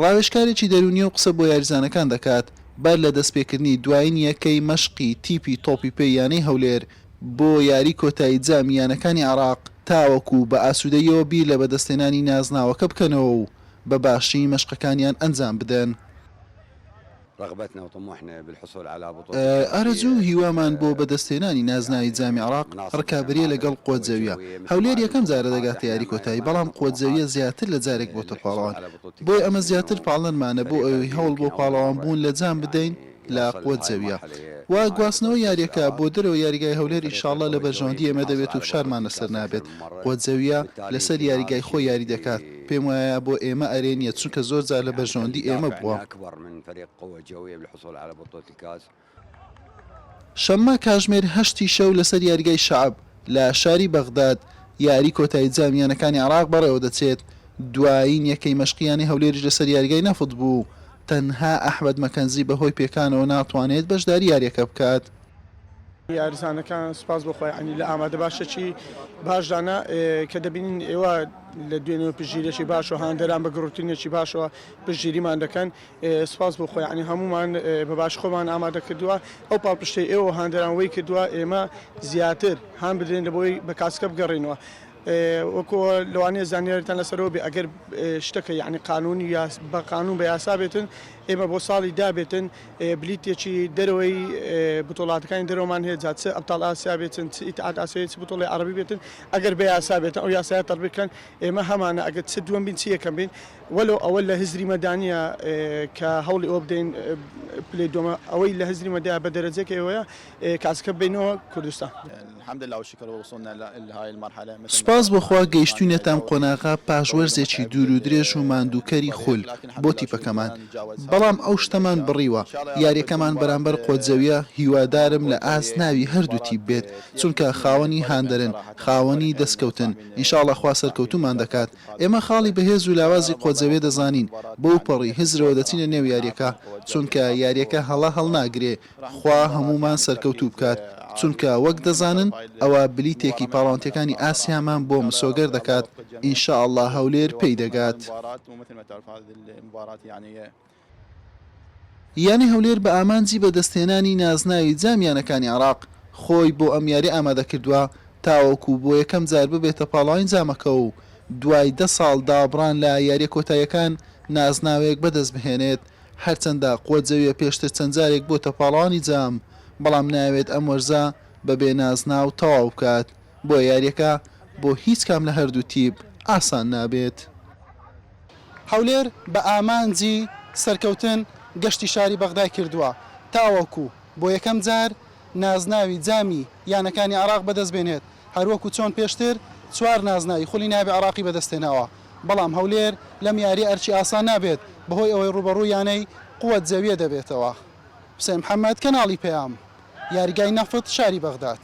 راوێژکارێکی دەروونی و قسە بۆ یاریزانەکان دەکات بەر لە دەستپێکردنی دوایین یەکەی مەشقی تیپی تۆپی پێی یانەی هەولێر بۆ یاری کۆتایی جامی یانەکانی عێراق تاوەکو بە ئاسوودەییەوە بیر لە بەدەستهێنانی نازناوەکە بکەنەوە و بە باشترین مەشقەکانیان ئەنجام بدەن. ئارەزوو و هیوامان بۆ بەدەستهێنانی نازناوی جامی عێراق ڕکابەرییە لەگەڵ قوەت زەوییە، هەولێر یەکەم جارە دەگاتە یاری کۆتایی، بەڵام قوەت زەوییە زیاتر لە جارێک بۆتە پاڵەوان، بۆیە ئەمە زیاتر پاڵنەرمانە بۆ ئەوەی هەوڵ بۆ پاڵەوانبوون لە جام بدەین لە قوەت زەوییە و گواستنەوەی یارییەکە بۆ دەرەوەی یاریگای هەولێر ئینشاڵڵا لە بەرژەوەندی ئێمە دەبێت و فشارمان لەسەر نابێت، قوەت زەوییە لەسەر یاریگای خۆی یاری دەکات، پێم وایە بۆ ئێمە ئەرێ نیە چونکە زۆر جار لە بەرژەوەندی ئێمە بووە. شەممە کاژمێر هەشت ی شەو لەسەر یاریگای شەعب لە شاری بەغداد یاری کۆتایی جامی یانەکانی عێراق بەڕێوەدەچێت، دوایین یەکەی مەشقی یانەی هەولێریش لەسەر یاریگای نەفت بوو، تەنها ئەحمەد مەکەنزی بەهۆی پێکانەوە ناتوانێت بەشداری یارییەکە بکات. یارزانەکان سوپاس بۆ خوای عەلی لە ئامادە باشەکی باشدانە کە دەبینین ئێوە لە دوێنێ پژیرێکی باش و هاندەران بە گڕوتنێکی باشەوە پژیریمان دەکەن سوپاس بۆ خۆی عنی هەمومان بە باش خۆمان ئامادە کردووە ئەو پاڵپشتی ئێوە هاندەران وی کردووە ئێمە زیاتر هان بدرێن لە بۆی بە کاسکە بگەڕینەوە وەکو لەوانەیە زانیارتان لەسەرەوە بێ ئەگەر شتەکە یعنی قانونی یا بە قانون بە یاسا بێتن ئێمە بۆ ساڵی دابێتن بلیتێکی دەرەوەی بتۆڵاتەکانی دەرەوەمان هەیە جا چ ئەبتاڵ ئاسیا بێتن چ ئیتحاد ئاسیایی چ بتۆڵی عەڕەبی بێتن ئەگەر بە یاسا بێتن ئەو یاسایە تەڕبیق کەن ئێمە هەمانە ئەگەر چ دووەم بین چ یەکەم بین وەلەو ئەوە لە هزریمە دا نییە کە هەوڵی ئەوە بدەین پلەی دووەمە ئەوەی لە هزریمە دایە بە دەرەجەکەی ئەوەیە کاسکە بینەوە کوردستان. سوپاس بۆ خوا گەیشتوینەتان قۆناغە پاش وەرزێکی دوور و درێژ و ماندووکەری خول بۆ تیپەکەمان بەڵام ئەو شتەمان بڕیوە یاریەکەمان بەرامبەر قۆتزەویە هیوادارم لە ئاست ناوی هەردوو تیپ بێت چونکە خاوەنی هاندەرن خاوەنی دەستکەوتن انشااللە خوا سەرکەوتومان دەکات ئێمە خاڵی بەهێز و لاوازی قۆتزەوێ دەزانین بەوپەڕی هزرەوە دەچینە نێو یاریەکە چونکە یاریەکە هەڵە هەڵناگرێ خوا هەموومان سەرکەوتوو بکات، چونکە وەک دەزانن ئەوە بلیتێکی پاڵاوتنەکانی ئاسیامان بۆ مسۆگەر دەکات، ان شاء اللە هەولێر پێی دەگات. یانەی هەولێر بە ئامانجی بەدەستهێنانی نازناوی جام یانەکانی عێراق خۆی بۆ ئەم یاریە ئامادەکردووە تاوەکو بۆ یەکەم جار ببێتە پاڵاوین جامەکە و دوای دە ساڵ دابڕان لە یاریە کۆتاییەکان نازناوێک بەدەستبهێنێت هەرچەندە قوەتزەویە پێشتر چەند جارێک بۆتە پاڵەوانی جام، بەڵام نایەوێت ئەم وەرزە بەبێ نازناو تەواو بکات، بۆیە یارییەکە بۆ هیچ کام لە هەردوو تیپ ئاسان نابێت. هەولێر بە ئامانجی سەرکەوتن گەشتی شاری بەغدای کردووە تاوەکو بۆ یەکەم جار نازناوی جامی یانەکانی عێراق بەدەستبێنێت، هەروەکو چۆن پێشتر چوار نازناوی خولی نایابی عێراقی بەدەستهێناوە. بەڵام هەولێر لەم یارییە ئەرکی ئاسان نابێت بەهۆی ئەوەی رووبەڕووی یانەی قوەت زەویە دەبێتەوە حوسێن محەمەد، کەناڵی پەیام، یاریگای نەفت شاری بەغداد.